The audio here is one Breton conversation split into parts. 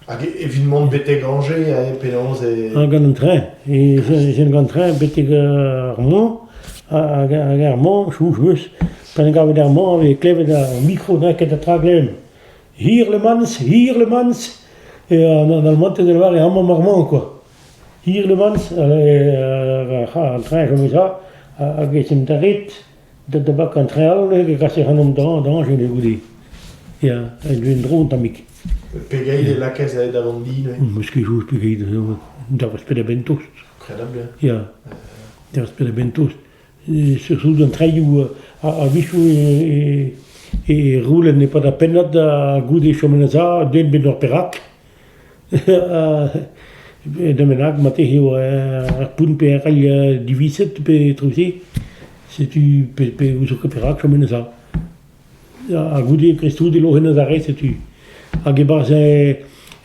Hag evit mont betek Angers, hein, penaos e... Gant an tren. Jen gant tren betek ar Mont, hag ar Mont, chouz meus, pa en gavet ar Mont, e klevet ar micro neket a tra glemm. Hir le mans, hir le mans, e an al monte de la Var, e hamam ar Mont, quoi. Hirlemans an traeñ komiza hag e tenterit da bakañ traeñ all hag e kaser an dañj enne goude. Ya, en-dro en-dro tammig. Pegeit e lakaez aet da vont di neuze? Eskijus pegeit, daoust penn-ha-benn tost. Kredabl, ya. Ya, daoust penn-ha-benn tost. Souden an traeñoù a-wechoù e roulen e-pad ar pennad goude chom en ur za, den bet ur perak. Da'm bennak marteze eo ar poent perc'hell diviset pe etruse. Setu pe- pe ouzout ket perak chomet neuze. Ha goude kreiztoude loc'het neuze re setu. Hag e-barzh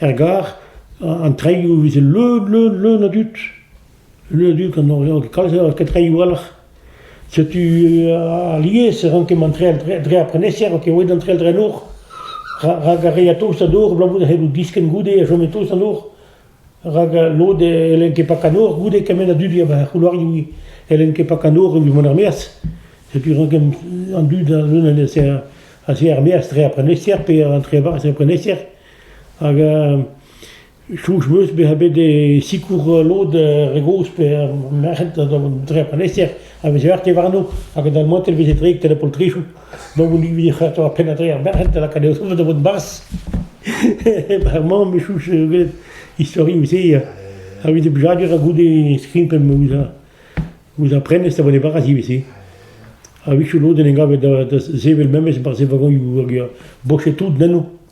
er gar, an treioù e veze leun, leun, leun a dud. Ul dug an Oriant kalz eo ketreioù-alc'h. Setu alies e rank ket mont dre ar prenestr, ket aet d'an trell-dre-nor, rak ar re a taos an nor abalamour da c'hellout diskenn goude a chom e-taos an nor, rak lod e c'hellent ket pakat nor goude kement a dud a er c'houloarioù e c'hellent ket pakat nor evit mont er-maez. Setu rank an dud leun a se er-maez dre ar prenestr pe an trevarez er prenestr, hag Soñj 'm eus bezañ bet e sikour lod re gozh pe merc'hed da vont dre an prenester a veze arte warno hag a dalmantel veze dreik da poltrisoù. Donc on vije c'hwec'h ar penn ha tregont merc'hed da lakaat o soñj da vont 'barzh. Bremañ me soñj gwelet istorioù-se a-vit e blijadur ha goude skrimpl ouzh ar prenestr da vont e-barzh ivez-se. A-wechoù lod en em gavet da sevel memes barzh e vagonioù hag bochet tout nenno.